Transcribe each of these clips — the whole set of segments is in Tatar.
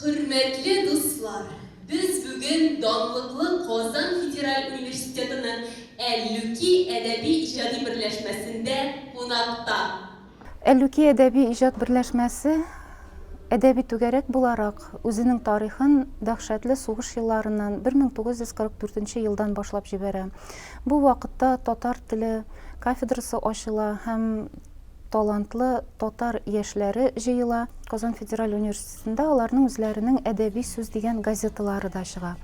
Хөрмәтле дуслар, без бүген данлыклы Казан федераль университетының Әллүки әдәби-иҗади берләшмәсендә кунакта. Әллүки әдәби-иҗат берләшмәсе әдәби түгәрәк буларак үзенең тарихын дәһшәтле сугыш елларыннан, 1944 елдан башлап җибәрә. Бу вакытта татар теле кафедрасы ачыла һәм талантлы татар яшьләре җыела. Казан федераль университетында аларның үзләренең Әдәби сүз дигән газеталары да чыга.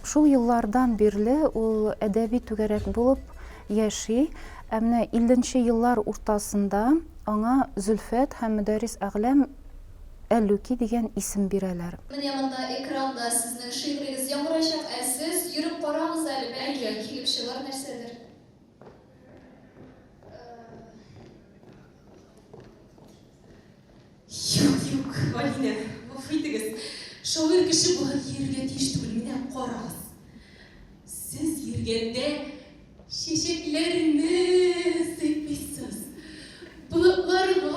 Шул еллардан бирле ул әдәби түгәрәк булып яши. Ә менә 50 еллар уртасында аңа Зөлфәт һәм Мөдәррис Әгъләм Әлүки дигән исем бирәләр. Менә монда экранда сезнең шигърегез яңгырачак, ә сез йөреп карагыз әле, бәлки, килеп чыгар нәрсәдер. Юк, юк, Алинә, гафу итегез. Шагыйрь кеше болай йөрергә тиеш түгел. Менә карагыз. Сез йөргәндә чәчәкләрне сыйпыйсыз. Болытларга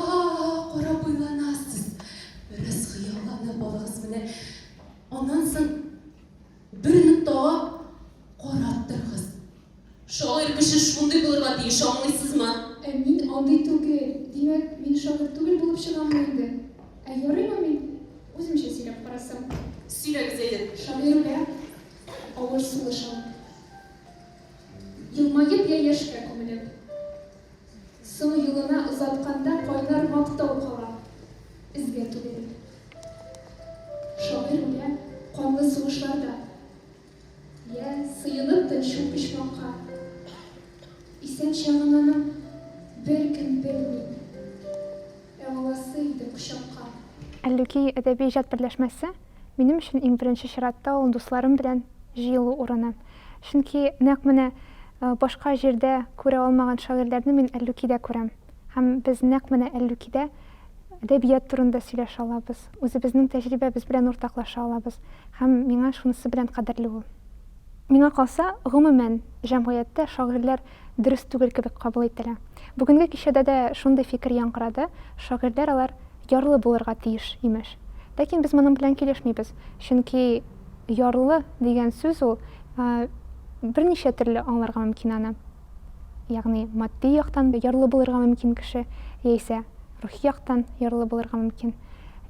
карап уйланасыз. Бераз хыялланып алыгыз менә. Аннан соң Бер ноктага карап торыгыз. Шагыйрь кеше шундый булырга тиеш, аңлыйсызмы? Ә мин андый түгел. Димәк, мин шагыйрь түгел булып чыгаммы инде? Ә ярыймы мин? Үземчә сөйләп карасам. Сөйләгез әйдер. Шагыйрьгә авыр сулыш алып. Елмаеп я яшькә күмелеп. Сул юлына озатканда кайнар мактау кала эзгә түгел. Шагыйрь үлә канлы сугышларда. Йә, сыенып тын шул почмакка. Исән чагын аның беркем белми. Ә аласы иде кочакка. Әллүки әдәби-иҗат берләшмәсе Минем өчен иң беренче чиратта ул дусларым белән җыелу урыны. Чөнки нәкъ менә башка җирдә күрә алмаган шагыйрьләрне мин Әллүкидә күрәм. Һәм без нәкъ менә Әллүкидә әдәбият турында сөйләшә алабыз, үзебезнең тәҗрибәбез белән уртаклаша алабыз. Һәм миңа шунысы белән кадерле ул. Миңа калса, гомумән, җәмгыятьтә шагыйрьләр дөрес түгел кебек кабул ителә. Бүгенге кичәдә дә шундый фикер яңгырады, шагыйрьләр алар ярлы булырга тиеш, имеш. Ләкин без моның белән килешмибез, чөнки ярлы дигән сүз ул берничә төрле аңларга мөмкин аны. Ягъни матди яктан ярлы булырга мөмкин кеше, яисә рухи яктан ярлы булырга мөмкин.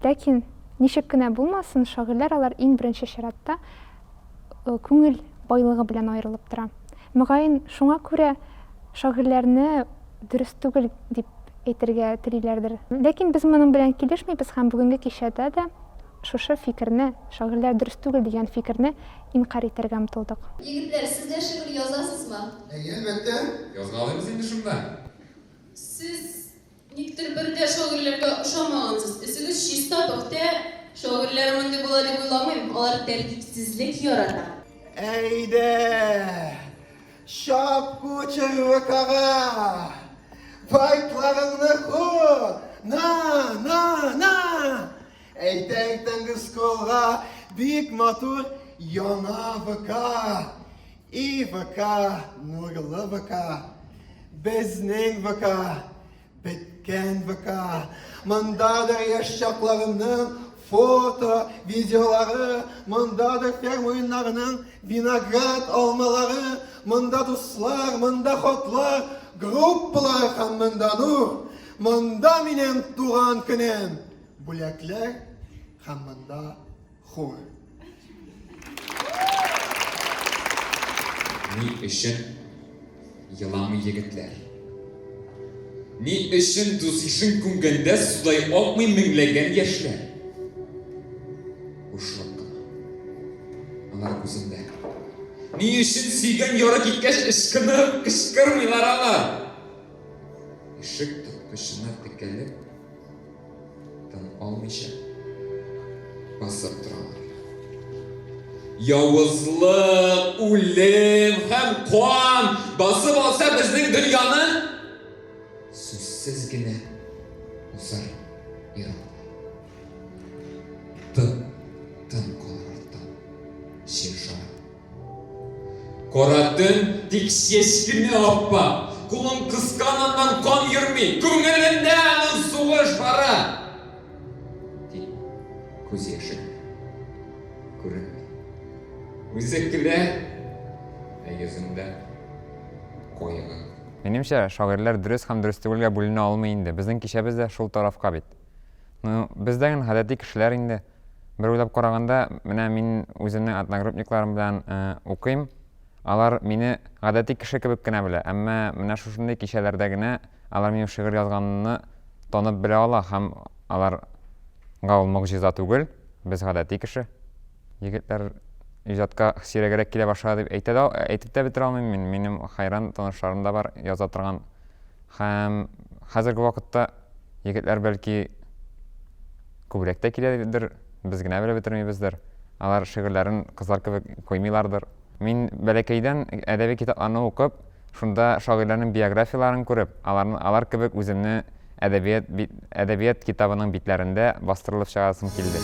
Ләкин ничек кенә булмасын, шагыйрьләр алар иң беренче чиратта күңел байлыгы белән аерылып тора. Мөгаен, шуңа күрә шагыйрьләрне дөрес түгел дип әйтергә телиләрдер. Ләкин без моның белән килешмибез һәм бүгенге кичәдә дә шушы фикерне, шагыйрьләр дөрес түгел дигән фикерне инкарь итәргә омтылдык. Егетләр, сез дә шигырь язасызмы? Әйе, әлбәттә. Язгалыйбыз инде шунда. Сез Никтер бер дә шагыйрьләргә ошамагансыз. Өсегез чиста, пөхтә. Шагыйрьләр мондый була дип уйламыйм. Алар тәртипсезлек ярата. Әйдә, чап кучер ВКга! Байтларыңны ку! На, на, на! Әйтә иртәнге скроллга бик матур яңа ВК! И ВК, нурлы ВК, безнең ВК, беткән ВК. Мондадыр яшь чакларымның фото, видеолары, мондадыр ферм уеннарының виноград алмалары, монда дуслар, монда хатлар, группалар һәм монда нур. Монда минем туган көнем. Бүләкләр һәм монда Хур. Ни өчен еламый егетләр? Ни өчен дус ишен күмгәндә судай акмый меңләгән яшьләр? Бушлык кына. Алар күзендә. Ни өчен сөйгән яры киткәч ышкынып, кычкырмыйлар алар? Ишек тоткычына текәлеп, Тын алмыйча басып торалар. Явызлык, үлем һәм кан басып алса безнең дөньяны сүзсез генә усар иран. Тын, тын калыр арттан. Шер Кара төн, тик чечкене аппа. Кулын кысканыннан кан йөрми, күңелендә аның сугыш бара. Тик күз яше күренми. Үзе көлә, ә йөзендә кайгы. Минемчә, шагыйрьләр дөрес һәм дөрес түгелгә бүленә алмый инде, безнең кичәбез дә шул тарафка бит. Ну, без дә гел гадәти кешеләр инде. Бер уйлап караганда, менә мин үземнең одногруппникларым белән укыйм. Алар мине гадәти кеше кебек кенә белә, әмма менә шушындый кичәләрдә генә алар минем шигырь язганымны танып белә ала һәм алар га ул могҗиза түгел, без гадәти кеше. Егетләр иҗатка сирәгрәк килә башлады дип әйтә дә әйтеп тә бетерә алмыйм мин. Минем хәйран танышларым да бар яза торган һәм хәзерге вакытта егетләр бәлки Күбрәк тә киләдер, без генә белеп бетермибездер. Алар шигырьләрен кызлар кебек куймыйлардыр. Мин бәләкәйдән әдәби китапларны укып, шунда шагыйрьләрнең биографияләрен күреп, аларны алар кебек үземне әдәбият бит әдәбият китабының битләрендә бастырылып чыгарасым килде.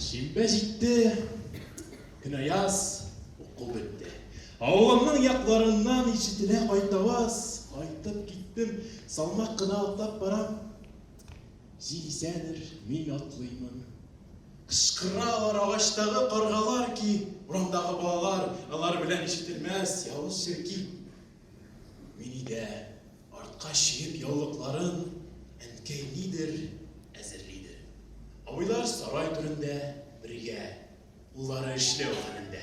Шимбә җитте, көнаяз, уку бетте. Авылымның якларыннан ишетелә кайтаваз, кайтып киттем, салмак кына атлап барам. Җил исәдер, мин атлыймын. Кычкыралар агачтагы каргалар ки, урамдагы балалар, алар белән ишетелмәс явыз черки. Мени дә артка чигеп яулыкларын, әнкәй нидер әзерлидер. Абыйлар сарай түрендә бергә, уллары эшләү хәлендә.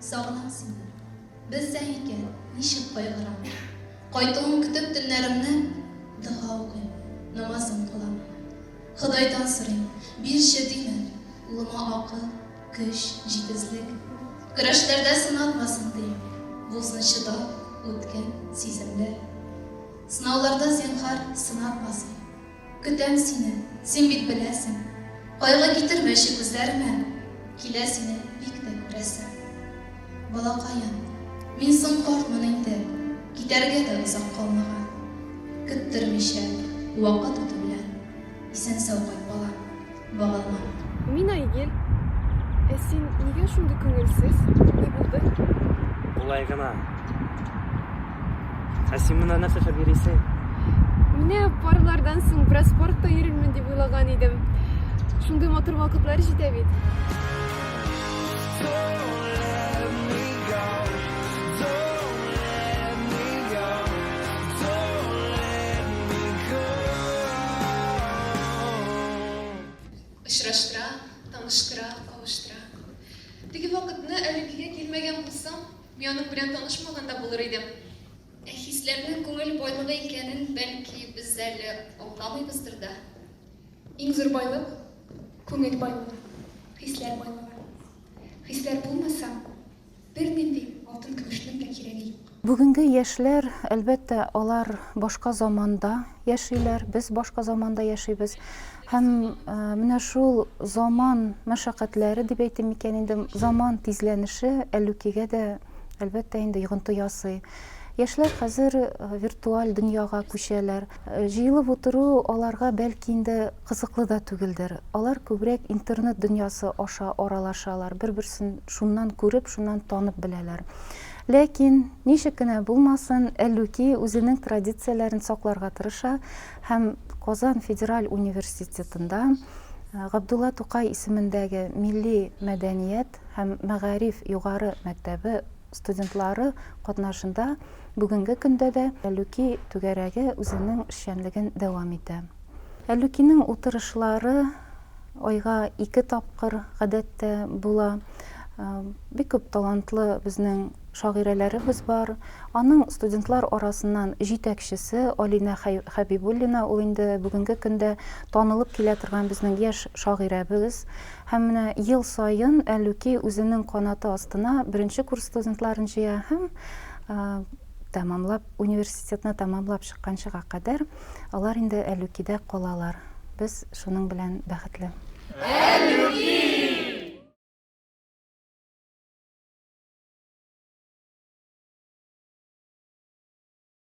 Сагынам сине. Белсәң икән, ничек кайгырам. Кайтуың көтеп төннәремне дога укыйм, намазым кылам. Ходайдан сорыйм, бирче дим әле, улыма акыл, көч, җитезлек. Көрәшләрдә сынатмасын дим, булсын чыдап, үткен, сиземле. Сынауларда, зинһар, сынатмасын. Көтәм сине, син бит беләсең. Кайгы китермәче күзләремә, Килә сине бик тә күрәсем. Балакаем, мин соң картмын инде, Китәргә дә озак калмаган. Көттермичә, вакыт үтү белән, Исән-сау кайт, балам. Вагазлар. Мин Айгел. Ә син нигә шундый күңелсез? Ни булды? Болай гына. Ә син монда нәрсә эшләп йөрисең? Менә парлардан соң бераз спортта йөрермен дип уйлаган идем. Шундый матур вакытлар җитә бит. Очраштыра, таныштыра, кавыштыра. Теге вакытны элеккегә килмәгән булсам, мин аның белән танышмаган да булыр идем. Ә хисләрнең күңел байлыгы икәнен, бәлки, без әле аңламыйбыздыр да. Иң зур байлык, күңел байлыгы, хисләр байлыгы. Хисләр булмаса, Бернинди алтын-көмешнең дә кирәге юк. Бүгенге яшьләр, әлбәттә, алар башка заманда яшиләр, без башка заманда яшибез. Һәм менә шул заман мәшәкатьләре дип әйтим микән инде, заман тизләнеше Әллүкигә дә, әлбәттә, инде йогынты ясый. Яшьләр хәзер виртуаль дөньяга күчәләр. Җыелып утыру аларга бәлки инде кызыклы да түгелдер. Алар күбрәк интернет дөньясы аша аралашалар, бер-берсен шуннан күреп, шуннан танып беләләр. Ләкин, ничек кенә булмасын, Әллүки үзенең традицияләрен сакларга тырыша һәм Казан федераль университетында Габдулла Тукай исемендәге милли мәдәният һәм мәгариф югары мәктәбе студентлары катнашында бүгенге көндә дә Әлүки түгәрәге үзенең эшчәнлеген дәвам итә. Әлүкинең утырышлары айга ике тапкыр, гадәттә, була. Бик күп талантлы безнең шагыйрәләребез бар. Аның студентлар арасыннан җитәкчесе Алинә Хәбибуллина, ул инде бүгенге көндә танылып килә торган безнең яшь шагыйрәбез. Һәм менә ел саен Әллүки үзенең канаты астына беренче курс студентларын җыя һәм тәмамлап, университетны тәмамлап чыкканчыга кадәр алар инде Әллүкидә калалар. Без шуның белән бәхетле. Әллүки!